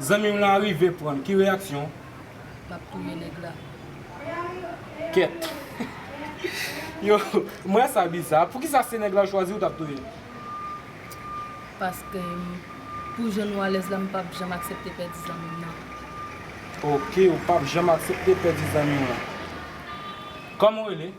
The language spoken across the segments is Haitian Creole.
Zanmim lan rive pranl ki reyaksyon w? Map touye neg la. Kèt. Yo m wè sa biza. Poukisa se neg la ou chwazi ou tap touyel? Paske pou jan nou alèz la m pap janm aksepte pèdi zanmim nan. Ok ou pap janm aksepte pèdi zanmiw lan. Koman ou rele?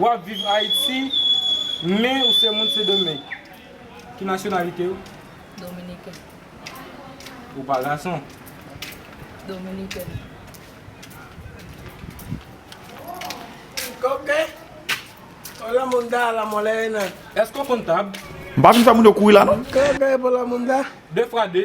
Wap viv Haiti men ou se moun sendomeng ki nasyonalite ou? Dominiken. Ou pa gason? Dominiken. Koke pou la munda la mole nan. Eske ou konn tab? M pa vin fè moun yo kouri la non. Koke pou la munda. 2 fwa 2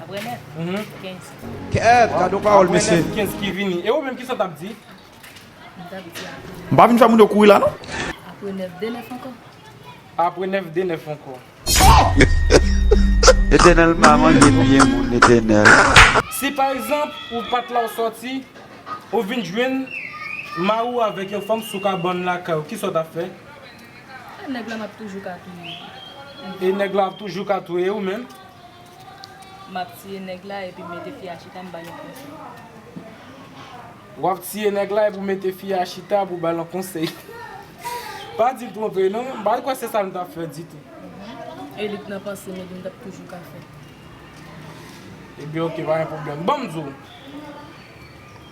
Apre nèt 15. Kèèt gad yon pawòl mesye. Apre nèt 15 ki vini. E ou menm kisa w tap di? M tap di apre. M pa vin fè moun yo kouri la non. Apre nèf de nèf ankò. Apre nèf de nèf ankò. Ohh! Etènèl pa manje byen moun Etènèl. Si pa egzanp ou pat la ou sòti, ou vin jwenn mari w avèk yon fanm sou kabann lakay ou, kisa w tap fè? E nèg la map toujou ka touye li. E nèg la ap toujou ka touye ou menm? Map tiye nèg la epi m mete fi a chita m bal yon konsèy. Wap tiye nèg la epi w mete fi a chita pou w bal yon konsèy. Pa di l twonpe non, m pa kwè se sa m tap fè ditou. E li t nan panse m epi m tap toujou ka fè. Ebyen ok pa gen pwoblèm. Banm di w.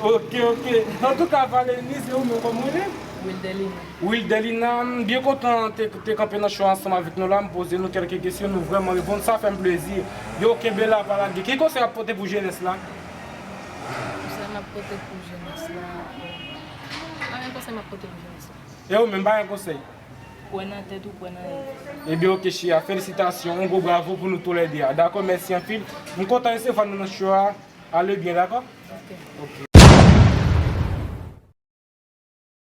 Ok ok antouka Valernie se ou menm kòman ou rele? Wildelina. Wildelina m byen kontan te kanpe nan show ansanm avèk nou la m poze nou kèlke kesyon nou vrèman reponn sa fèm plezi yo kenbe la pa lage ki konsèy wap pote pou jenès la? Konsèy map pote pou jenès la bon pa gen konsèy map pote pou jenès la. E ou menm pa gen konsèy? Kwè nan tèt ou kwè nan li. Ebyen ok chia felisitasyon yon gwo bravo pou nou tou lè 2 a dakò mèsi anpil m kontan resevwa nou nan show a a le byen dakò ok.